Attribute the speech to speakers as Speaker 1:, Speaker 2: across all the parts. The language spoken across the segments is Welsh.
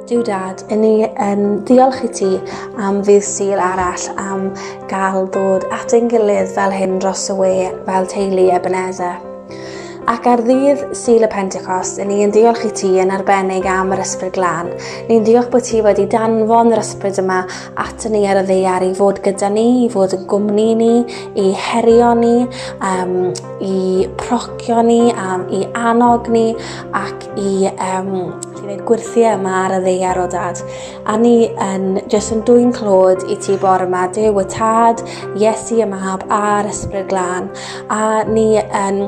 Speaker 1: Duw dad, yn ni yn ddiolch i ti am fydd syl arall am gael dod at ein gilydd fel hyn dros y we fel teulu Ebenezer. Ac ar ddydd syl y Pentecost, yn ni yn ddiolch i ti yn arbennig am yr ysbryd glân. Ni'n diolch bod ti wedi danfon yr ysbryd yma at ni ar y ddeiar i fod gyda ni, i fod yn gwmni ni, i herio ni, um, i procio ni, am i annog ni ac i um, i wneud gwirthiau yma ar y ddeiar o dad. A ni yn jyst yn dwy'n clod i ti bor yma, Dyw y tad, Iesu y mab a'r ysbryd glân. A ni yn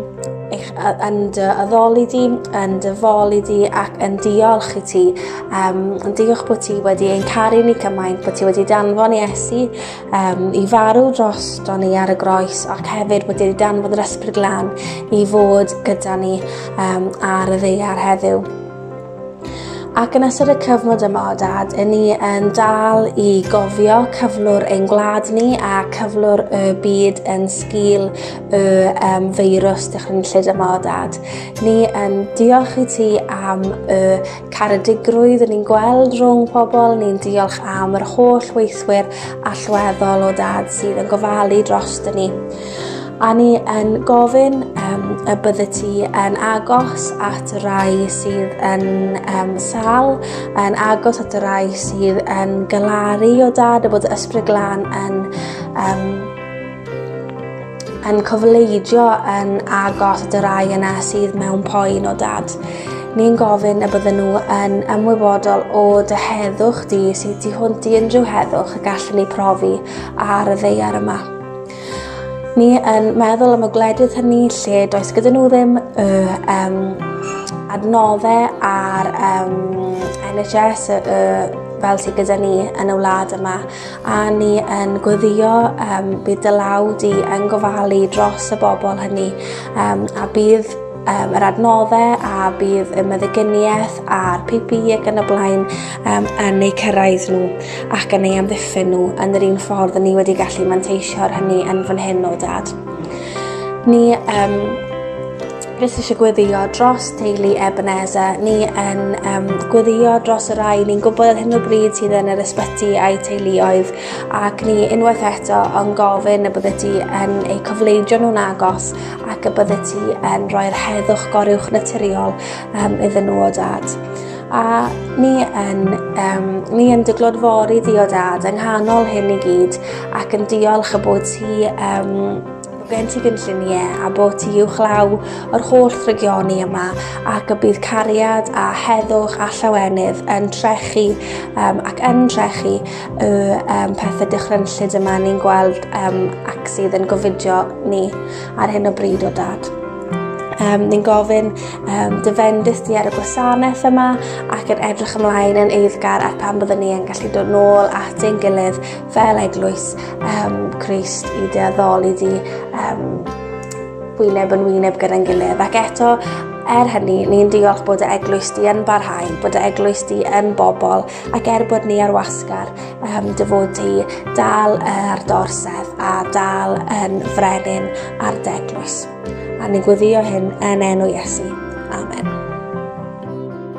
Speaker 1: eich, yn dy addoli di, yn dy foli di ac yn diolch i ti. Um, yn diolch bod ti wedi ein caru ni cymaint, bod ti wedi danfon i Esi um, i farw dros do ni ar y groes ac hefyd wedi danfod yr ysbryd lan i fod gyda ni um, ar y ddeiar heddiw. Ac yn ystod y cyfnod yma o dad, yn ni yn dal i gofio cyflwr ein gwlad ni a cyflwr y byd yn sgil y um, feirws dychrynllyd yma o dad. Ni yn diolch i ti am y caredigrwydd ni'n gweld rhwng pobl, ni'n diolch am yr holl weithwyr allweddol o dad sydd yn gofalu dros dyn ni. A ni yn gofyn um, y bydde ti yn agos at y rai sydd yn um, sal, yn agos at y rai sydd yn galaru o dad, a bod ysbryd glan yn um, yn cofleidio yn agos at y rai yna sydd mewn poen o dad. Ni'n gofyn y bydden nhw yn ymwybodol o dy heddwch di sydd tu hwnt i unrhyw heddwch y gallwn ni profi ar y ddeiar yma. Ni yn meddwl am y gwledydd hynny lle does gyda nhw ddim y um, adnoddau ar um, NHS y, y, fel sydd gyda ni yn y wlad yma A ni yn gweddio um, bydd dy law di yn gofalu dros y bobl hynny um, a bydd um, yr adnoddau a bydd y meddygyniaeth a'r PPE ac yn y blaen um, yn eu cyrraedd nhw ac yn eu amddiffyn nhw yn yr un ffordd ni wedi gallu manteisio'r hynny yn fan hyn o dad. Ni um, Jyst eisiau gweddio dros teulu Ebenezer. Ni yn um, gweddio dros y rai ni'n gwybod ar hyn o bryd sydd yn yr ysbyty a'i teuluoedd ac ni unwaith eto yn gofyn y bydde ti yn eu cofleidio nhw'n agos ac y bydde ti yn rhoi'r heddwch goriwch naturiol um, iddyn nhw o dad a ni yn, um, ni yn dyglod fori di o dad yng nghanol hyn i gyd ac yn diolch y bod ti um, Bod gen ti gynlluniau a bod ti uwchlaw o'r holl ddrygioni yma ac y bydd cariad a heddwch a llawenydd yn trechu um, ac yn trechu y um, pethau dychrynllyd yma ni'n gweld um, ac sydd yn gofidio ni ar hyn o bryd o dad. Um, ni'n gofyn um, dyfendus di ar y gwasanaeth yma ac yn edrych ymlaen yn eiddgar at pan byddwn ni yn gallu dod nôl at ein gilydd Fel eglwys um, Christ i dy addoli di um, wyneb yn wyneb gyda'n gilydd. Ac eto, er hynny, ni'n diolch bod y eglwys di yn barhau, bod y eglwys di yn bobl, ac er bod ni ar wasgar, um, dy fod ti dal ar dorsedd a dal yn frenin ar deglwys. A ni'n gweddio hyn yn enw Iesu. Amen.